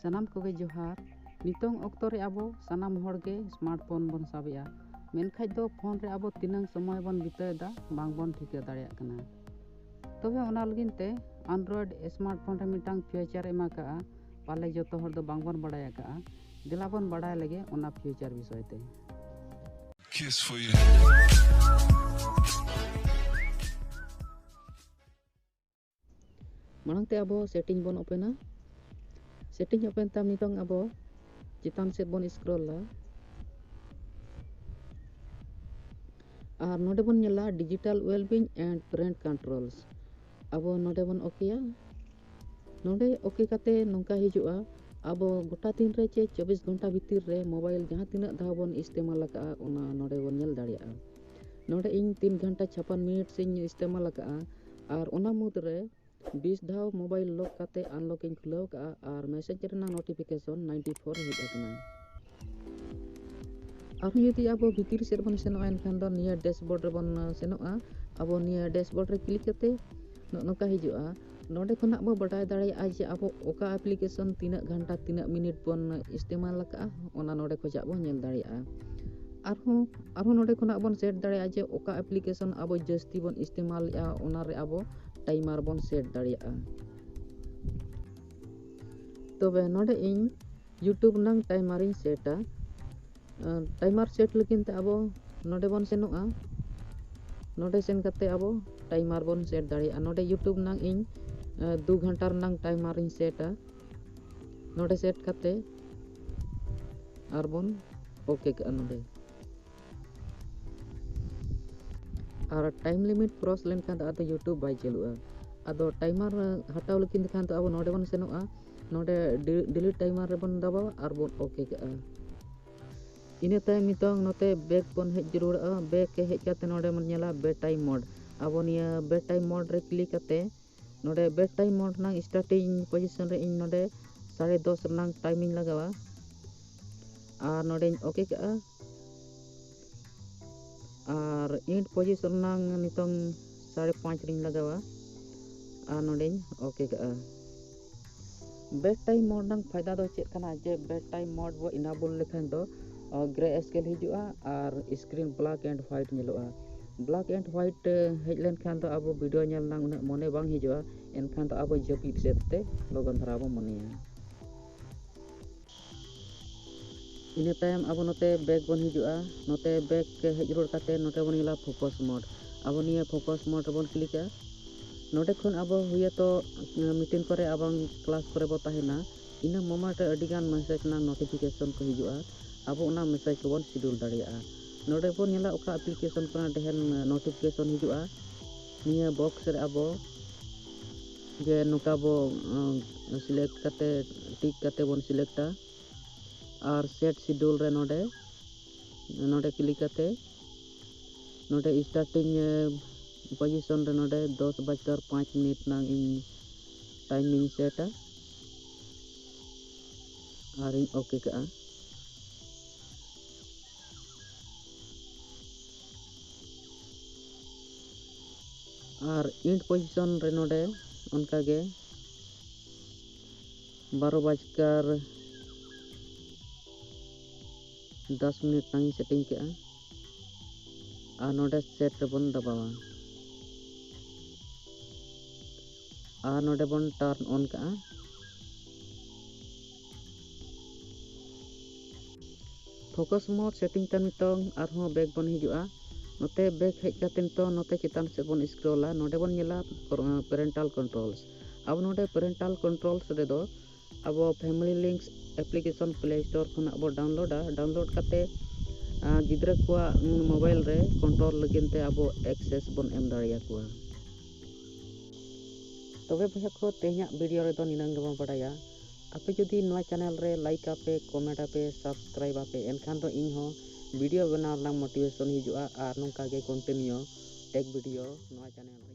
ᱥᱟᱱᱟᱢ ᱠᱚᱜᱮ ᱡᱚᱦᱟᱨ ᱱᱤᱛᱚᱝ ᱚᱠᱛᱚ ᱨᱮ ᱟᱵᱚ ᱥᱟᱱᱟᱢ ᱦᱚᱲ ᱜᱮ ᱥᱢᱟᱨᱴ ᱯᱷᱳᱱ ᱵᱚᱱ ᱥᱟᱵᱮᱜᱼᱟ ᱢᱮᱱᱠᱷᱟᱡ ᱫᱚ ᱯᱷᱳᱱ ᱨᱮ ᱟᱵᱚ ᱛᱤᱱᱟᱹᱝ ᱥᱚᱢᱚᱭ ᱵᱚᱱ ᱵᱤᱛᱟᱹᱣᱮᱫᱟ ᱵᱟᱝ ᱵᱚᱱ ᱴᱷᱤᱠᱟᱹ ᱫᱟᱲᱮᱭᱟᱜ ᱠᱟᱱᱟ ᱛᱚᱵᱮ ᱚᱱᱟ ᱞᱟᱹᱜᱤᱫ ᱛᱮ ᱟᱱᱰᱨᱚᱭᱮᱰ ᱥᱢᱟᱨᱴ ᱯᱷᱳᱱ ᱨᱮ ᱢᱤᱫᱴᱟᱝ ᱯᱷᱤᱭᱩᱪᱟᱨ ᱮᱢᱟ ᱠᱟᱜᱼᱟ ᱯᱟᱞᱮ ᱡᱚᱛᱚ ᱦᱚᱲ ᱫᱚ ᱵᱟᱝ ᱵᱚᱱ ᱵᱟᱲᱟᱭ ᱟᱠᱟᱜᱼᱟ ᱫᱮᱞᱟ ᱵᱚᱱ ᱵᱟᱲᱟᱭ ᱞᱮᱜᱮ ᱚᱱᱟ ᱯᱷᱤᱭᱩᱪᱟᱨ ᱵᱤᱥᱚᱭ ᱛᱮ Kiss for you. ᱢᱟᱲᱟᱝ ᱛᱮ ᱟᱵᱚ ᱥᱮᱴᱤᱝ ᱵᱚᱱ ᱳᱯᱮᱱᱟ ᱥᱮᱴᱤᱝ ᱳᱯᱮᱱ ᱛᱟᱭᱚᱢ ᱱᱤᱛᱚᱝ ᱟᱵᱚ ᱪᱮᱛᱟᱱ ᱥᱮᱫ ᱵᱚᱱ ᱥᱠᱨᱚᱞᱟ ᱟᱨ ᱱᱚᱰᱮ ᱵᱚᱱ ᱧᱮᱞᱟ digital wellbeing and parent controls ᱟᱵᱚ ᱱᱚᱰᱮ ᱵᱚᱱ ᱳᱠᱮᱭᱟ ᱱᱚᱰᱮ ᱳᱠᱮ ᱠᱟᱛᱮ ᱱᱚᱝᱠᱟ ᱦᱤᱡᱩᱜᱼᱟ ᱟᱵᱚ ᱜᱚᱴᱟ ᱫᱤᱱ ᱨᱮ ᱪᱮ ᱪᱚᱵᱵᱤᱥ ᱜᱷᱚᱱᱴᱟ ᱵᱷᱤᱛᱤᱨ ᱨᱮ ᱢᱳᱵᱟᱭᱤᱞ ᱡᱟᱦᱟᱸ ᱛᱤᱱᱟᱹᱜ ᱫᱷᱟᱣ ᱵᱚᱱ ᱤᱥᱛᱮᱢᱟᱞ ᱟᱠᱟᱜᱼᱟ ᱚᱱᱟ ᱱᱚᱰᱮ ᱵᱚᱱ ᱧᱮᱞ ᱫᱟᱲᱮᱭᱟᱜᱼᱟ ᱱᱚᱰᱮ ᱤᱧ ᱛᱤᱱ ᱜᱷᱚᱱᱴᱟ ᱪᱷᱟᱯᱟᱱ ᱢᱤᱱᱤᱴᱥ ᱤᱧ ᱤᱥᱛᱮᱢᱟᱞ ᱟᱠᱟᱜᱼᱟ ᱟᱨ ᱚᱱᱟ ᱢᱩᱫᱽ ᱨᱮ ᱵᱤᱥ ᱫᱷᱟᱣ ᱢᱳᱵᱟᱭᱤᱞ ᱞᱚᱠ ᱠᱟᱛᱮᱫ ᱟᱱᱞᱚᱠ ᱤᱧ ᱠᱷᱩᱞᱟᱹᱣ ᱠᱟᱜᱼᱟ ᱟᱨ ᱢᱮᱥᱮᱡᱽ ᱨᱮᱱᱟᱜ ᱱᱳᱴᱤᱯᱷᱤᱠᱮᱥᱚᱱ ᱱᱟᱭᱤᱱᱴᱤ ᱯᱷᱳᱨ ᱦᱮᱡ ᱟᱠᱟᱱᱟ ᱟᱨᱦᱚᱸ ᱡᱩᱫᱤ ᱟᱵᱚ ᱵᱷᱤᱛᱤᱨ ᱥᱮᱫ ᱵᱚᱱ ᱥᱮᱱᱚᱜᱼᱟ ᱮᱱᱠᱷᱟᱱ ᱫᱚ ᱱᱤᱭᱟᱹ ᱰᱮᱥᱵᱳᱨᱰ ᱨᱮᱵᱚᱱ ᱥᱮᱱᱚᱜᱼᱟ ᱟᱵᱚ ᱱᱤᱭᱟᱹ ᱰᱮᱥᱵᱳᱨᱰ ᱨᱮ ᱠᱞᱤᱠ ᱠᱟᱛᱮᱫ ᱱᱚᱜᱼᱚ ᱱᱚᱝᱠᱟ ᱦᱤᱡᱩᱜᱼᱟ ᱱᱚᱰᱮ ᱠᱷᱚᱱᱟᱜ ᱵᱚ ᱵᱟᱰᱟᱭ ᱫᱟᱲᱮᱭᱟᱜᱼᱟ ᱡᱮ ᱟᱵᱚ ᱚᱠᱟ ᱟᱯᱞᱤᱠᱮᱥᱚᱱ ᱛᱤᱱᱟᱹᱜ ᱜᱷᱟᱱᱴᱟ ᱛᱤᱱᱟᱹᱜ ᱢᱤᱱᱤᱴ ᱵᱚᱱ ᱤᱥᱛᱮᱢᱟᱞ ᱟᱠᱟᱫᱼᱟ ᱚᱱᱟ ᱱᱚᱰᱮ ᱠᱷᱚᱱᱟᱜ ᱵᱚᱱ ᱧᱮᱞ ᱫᱟᱲᱮᱭᱟᱜᱼᱟ ᱟᱨᱦᱚᱸ ᱟᱨᱦᱚᱸ ᱱᱚᱰᱮ ᱠᱷᱚᱱᱟᱜ ᱵᱚᱱ ᱥᱮᱴ ᱫᱟᱲᱮᱭᱟᱜᱼᱟ ᱡᱮ ᱚᱠᱟ ᱮᱯᱞᱤᱠᱮᱥᱚᱱ ᱟᱵᱚ ᱡᱟᱹᱥᱛᱤ ᱵᱚᱱ ᱤᱥᱛᱮᱢᱟᱞᱮᱜᱼᱟ ᱚᱱᱟᱨᱮ ᱟᱵᱚ ᱴᱟᱭᱢᱟᱨ ᱵᱚᱱ ᱥᱮᱴ ᱫᱟᱲᱮᱭᱟᱜᱼᱟ ᱛᱚᱵᱮ ᱱᱚᱰᱮ ᱤᱧ ᱤᱭᱩᱴᱩᱵᱽ ᱨᱮᱱᱟᱝ ᱴᱟᱭᱢᱟᱨᱤᱧ ᱥᱮᱴᱟ ᱴᱟᱭᱢᱟᱨ ᱥᱮᱴ ᱞᱟᱹᱜᱤᱫ ᱛᱮ ᱟᱵᱚ ᱱᱚᱰᱮ ᱵᱚᱱ ᱥᱮᱱᱚᱜᱼᱟ ᱱᱚᱰᱮ ᱥᱮᱱ ᱠᱟᱛᱮ ᱟᱵᱚ ᱴᱟᱭᱢᱟᱨ ᱵᱚᱱ ᱥᱮᱴ ᱫᱟᱲᱮᱭᱟᱜᱼᱟ ᱱᱚᱰᱮ ᱤᱭᱩᱴᱩᱵᱽ ᱨᱮᱱᱟᱝ ᱤᱧ ᱫᱩ ᱜᱷᱚᱱᱴᱟ ᱨᱮᱱᱟᱝ ᱴᱟᱭᱢᱟᱨᱤᱧ ᱥᱮᱴᱟ ᱱᱚᱰᱮ ᱥᱮᱴ ᱠᱟᱛᱮ ᱟᱨᱵᱚᱱ ᱳᱠᱮ ᱠᱟᱜᱼᱟ ᱱᱚᱰᱮ ᱟᱨ ᱴᱟᱭᱤᱢ ᱞᱤᱢᱤᱴ ᱠᱨᱚᱥ ᱞᱮᱱᱠᱷᱟᱱ ᱫᱚ ᱟᱫᱚ ᱤᱭᱩᱴᱩᱵᱽ ᱵᱟᱭ ᱪᱟᱹᱞᱩᱜᱼᱟ ᱟᱫᱚ ᱴᱟᱭᱤᱢᱟᱨ ᱦᱟᱴᱟᱣ ᱞᱮᱠᱷᱟᱱ ᱫᱚ ᱠᱷᱟᱱ ᱫᱚ ᱟᱵᱚ ᱱᱚᱰᱮ ᱵᱚᱱ ᱥᱮᱱᱚᱜᱼᱟ ᱱᱚᱰᱮ ᱰᱤᱞᱤᱴ ᱴᱟᱭᱤᱢᱟᱨ ᱨᱮᱵᱚᱱ ᱫᱟᱵᱟᱣᱟ ᱟᱨ ᱵᱚᱱ ᱳᱠᱮ ᱠᱟᱜᱼᱟ ᱤᱱᱟᱹ ᱛᱟᱭᱚᱢ ᱱᱤᱛᱚᱝ ᱱᱚᱛᱮ ᱵᱮᱠ ᱵᱚᱱ ᱦᱮᱡ ᱡᱟᱹᱨᱩᱲᱚᱜᱼᱟ ᱵᱮᱠ ᱦᱮᱡ ᱠᱟᱛᱮ ᱱᱚᱰᱮ ᱵᱚᱱ ᱧᱮᱞᱟ ᱵᱮ ᱴᱟᱭᱤᱢ ᱢᱳᱰ ᱟᱵᱚ ᱱᱤᱭᱟᱹ ᱵᱮ ᱴᱟᱭᱤᱢ ᱢᱳᱰ ᱨᱮ ᱠᱞᱤᱠ ᱠᱟᱛᱮ ᱱᱚᱰᱮ ᱵᱮᱰ ᱴᱟᱭᱤᱢ ᱢᱳᱰ ᱨᱮᱱᱟᱜ ᱥᱴᱟᱨᱴᱤᱝ ᱯᱚᱡᱤᱥᱚᱱ ᱨᱮ ᱤᱧ ᱱᱚᱰᱮ ᱥᱟᱲᱮ ᱫᱚᱥ ᱨᱮᱱᱟᱜ ᱴᱟᱭᱤᱢᱤᱧ ᱞᱟᱜᱟᱣᱟ ᱟᱨ ᱱᱚᱰᱮᱧ ᱳᱠᱮ ᱠᱟᱜᱼᱟ ᱟᱨ ᱤᱱᱴ ᱯᱚᱡᱤᱥᱚᱱ ᱨᱮᱱᱟᱜ ᱱᱤᱛᱚᱝ ᱥᱟᱲᱮ ᱯᱟᱸᱪ ᱨᱤᱧ ᱞᱟᱜᱟᱣᱟ ᱟᱨ ᱱᱚᱰᱮᱧ ᱳᱠᱮ ᱠᱟᱜᱼᱟ ᱵᱮᱰ ᱴᱟᱭᱤᱢ ᱢᱳᱰ ᱨᱮᱱᱟᱜ ᱯᱷᱟᱭᱫᱟ ᱫᱚ ᱪᱮᱫ ᱠᱟᱱᱟ ᱡᱮ ᱵᱮᱰ ᱴᱟᱭᱤᱢ ᱢᱳᱰ ᱵᱚ ᱤᱱᱟᱵᱚᱞ ᱞᱮᱠᱷᱟᱱ ᱫᱚ ᱜᱨᱮ ᱥᱠᱮᱞ ᱦᱤᱡᱩᱜᱼᱟ ᱟᱨ ᱥᱠᱨᱤᱱ ᱵᱞᱟᱠ ᱮᱱᱰ ᱦᱳᱣᱟᱭᱤᱴ ᱧᱮᱞᱚᱜᱼᱟ ᱵᱞᱟᱠ ᱮᱱᱰ ᱦᱳᱣᱟᱭᱤᱴ ᱦᱮᱡ ᱞᱮᱱᱠᱷᱟᱱ ᱫᱚ ᱟᱵᱚ ᱵᱷᱤᱰᱤᱭᱳ ᱧᱮᱞ ᱨᱮᱱᱟᱜ ᱩᱱᱟᱹᱜ ᱢᱚᱱᱮ ᱵᱟᱝ ᱦᱤᱡᱩᱜᱼᱟ ᱮᱱᱠᱷᱟᱱ ᱫᱚ ᱟᱵᱚ ᱡᱟᱹᱯᱤᱫ ᱥᱮᱫ ᱛᱮ ᱞᱚᱜᱚᱱ ᱫᱷᱟᱨᱟ ᱵᱚ ᱢᱚᱱᱮᱭᱟ ᱤᱱᱟᱹ ᱛᱟᱭᱚᱢ ᱟᱵᱚ ᱱᱚᱛᱮ ᱵᱮᱠ ᱵᱚᱱ ᱦᱤᱡᱩᱜᱼᱟ ᱱᱚᱛᱮ ᱵᱮᱠ ᱦᱮᱡ ᱨᱩᱣᱟᱹᱲ ᱠᱟᱛᱮ ᱱᱚᱛᱮ ᱵᱚᱱ ᱧᱮᱞᱟ ᱯᱷᱳᱠᱚᱥ ᱢᱳᱰ ᱟᱵᱚ ᱱᱤᱭᱟᱹ ᱯᱷᱳᱠᱚᱥ ᱢᱳᱰ ᱨᱮᱵᱚᱱ ᱠᱞᱤᱠᱟ ᱱᱚᱰᱮ ᱠᱷᱚᱱ ᱟᱵᱚ ᱦᱩᱭᱟᱛᱚ ᱢᱤᱴᱤᱝ ᱠᱚᱨᱮ ᱟᱵᱟᱝ ᱠᱞᱟᱥ ᱠᱚᱨᱮ ᱵᱚ ᱛᱟᱦᱮᱱᱟ ᱤᱱᱟᱹ ᱢᱳᱢᱮᱱᱴ ᱨᱮ ᱟᱹᱰᱤ ᱜᱟᱱ ᱢᱮᱥᱮᱡᱽ ᱨᱮᱱᱟᱜ ᱱᱳᱴᱤᱯᱷᱤᱠᱮᱥᱚᱱ ᱠᱚ ᱦᱤᱡᱩᱜᱼᱟ ᱟᱵᱚ ᱚᱱᱟ ᱢᱮᱥᱮᱡᱽ ᱠᱚᱵᱚᱱ ᱥᱤᱰᱩᱞ ᱫᱟᱲᱮᱭᱟᱜᱼᱟ ᱱᱚᱰᱮ ᱵᱚᱱ ᱧᱮᱞᱟ ᱚᱠᱟ ᱮᱯᱞᱤᱠᱮᱥᱚᱱ ᱠᱷᱚᱱᱟᱜ ᱰᱷᱮᱨ ᱱᱳᱴᱤᱯᱷᱤᱠᱮᱥᱚᱱ ᱦᱤᱡᱩᱜᱼᱟ ᱱᱤᱭᱟᱹ ᱵᱚᱠᱥ ᱨᱮ ᱟᱵᱚ ᱡᱮ ᱱᱚᱝᱠᱟ ᱵᱚ ᱥᱤᱞᱮᱠᱴ ᱠᱟᱛᱮ ᱴᱤᱠ ᱠᱟᱛᱮ ᱵᱚᱱ ᱥᱤᱞᱮᱠᱴᱟ ᱟᱨ ᱥᱮᱴ ᱥᱤᱰᱩᱞ ᱨᱮ ᱱᱚᱰᱮ ᱱᱚᱰᱮ ᱠᱞᱤᱠ ᱠᱟᱛᱮ ᱱᱚᱰᱮ ᱥᱴᱟᱨᱴᱤᱝ ᱯᱚᱡᱤᱥᱚᱱ ᱨᱮ ᱱᱚᱰᱮ ᱫᱚᱥ ᱵᱟᱡᱠᱟᱨ ᱯᱟᱸᱪ ᱢᱤᱱᱤᱴ ᱱᱟᱝ ᱤᱧ ᱴᱟᱭᱢᱤᱧ ᱥᱮᱴᱟ ᱟᱨᱤᱧ ᱳᱠᱮ ᱠᱟᱜᱼᱟ ᱟᱨ ᱤᱱᱴ ᱯᱚᱡᱤᱥᱚᱱ ᱨᱮ ᱱᱚᱰᱮ ᱚᱱᱠᱟᱜᱮ ᱵᱟᱨᱚ ᱵᱟᱡᱠᱟᱨ ᱫᱚᱥ ᱢᱤᱱᱤᱴ ᱛᱟᱝ ᱥᱮᱴᱤᱝ ᱠᱮᱜᱼᱟ ᱟᱨ ᱱᱚᱰᱮ ᱥᱮᱴ ᱨᱮᱵᱚᱱ ᱫᱟᱵᱟᱣᱟ ᱟᱨ ᱱᱚᱰᱮ ᱵᱚᱱ ᱴᱟᱨᱱ ᱚᱱ ᱠᱟᱜᱼᱟ ᱯᱷᱳᱠᱟᱥ ᱢᱳᱰ ᱥᱮᱴᱤᱝ ᱛᱮ ᱱᱤᱛᱚᱝ ᱟᱨᱦᱚᱸ ᱵᱮᱠ ᱵᱚᱱ ᱦᱤᱡᱩᱜᱼᱟ ᱱᱚᱛᱮ ᱵᱮᱠ ᱦᱮᱡ ᱠᱟᱛᱮ ᱱᱤᱛᱚᱝ ᱱᱚᱛᱮ ᱪᱮᱛᱟᱱ ᱥᱮᱫ ᱵᱚᱱ ᱥᱠᱨᱚᱞᱟ ᱱᱚᱰᱮ ᱵᱚᱱ ᱧᱮᱞᱟ ᱯᱮᱨᱮᱱᱴᱟᱞ ᱠᱚᱱᱴᱨᱳᱞᱥ ᱟᱵᱚ ᱱᱚᱰᱮ ᱯᱮᱨᱮᱱᱴᱟᱞ ᱠᱚᱱᱴᱨᱳᱞᱥ ᱨᱮᱫᱚ ᱟᱵᱚ family links application Play Store ᱠᱷᱚᱱᱟᱜ ᱵᱚ ᱰᱟᱣᱩᱱᱞᱳᱰᱟ ᱰᱟᱣᱩᱱᱞᱳᱰ ᱠᱟᱛᱮ ᱜᱤᱫᱽᱨᱟᱹ ᱠᱚᱣᱟᱜ ᱢᱳᱵᱟᱭᱤᱞ ᱨᱮ ᱠᱚᱱᱴᱨᱳᱞ ᱞᱟᱹᱜᱤᱫ ᱛᱮ ᱟᱵᱚ ᱮᱠᱥᱮᱥ ᱵᱚᱱ ᱮᱢ ᱫᱟᱲᱮᱭᱟᱠᱚᱣᱟ ᱛᱚᱵᱮ ᱵᱚᱭᱦᱟ ᱠᱚ ᱛᱮᱦᱮᱧᱟᱜ ᱵᱷᱤᱰᱤᱭᱳ ᱨᱮᱫᱚ ᱱᱤᱱᱟᱹᱝ ᱜᱮᱵᱚᱱ ᱵᱟᱰᱟᱭᱟ ᱟᱯᱮ ᱡᱩᱫᱤ ᱱᱚᱣᱟ ᱪᱟᱱᱮᱞ ᱨᱮ ᱞᱟᱭᱤᱠ ᱟᱯᱮ ᱠᱚᱢᱮᱱᱴ ᱟᱯᱮ ᱥᱟᱵᱥᱠᱨᱟᱭᱤᱵ ᱟᱯᱮ ᱮᱱᱠᱷᱟᱱ ᱫᱚ ᱤᱧ ᱦᱚᱸ ᱵᱷᱤᱰᱤᱭᱳ ᱵᱮᱱᱟᱣ ᱨᱮᱱᱟᱜ ᱢᱳᱴᱤᱵᱷᱮᱥᱚᱱ ᱦᱤᱡᱩᱜᱼᱟ ᱟᱨ ᱱᱚᱝᱠᱟ ᱜᱮ ᱠᱚᱱᱴᱤᱱᱤᱭᱳ ᱴᱮᱠ ᱵᱷᱤᱰᱤᱭᱳ ᱱᱚᱣᱟ ᱪᱟᱱᱮᱞ ᱨᱮ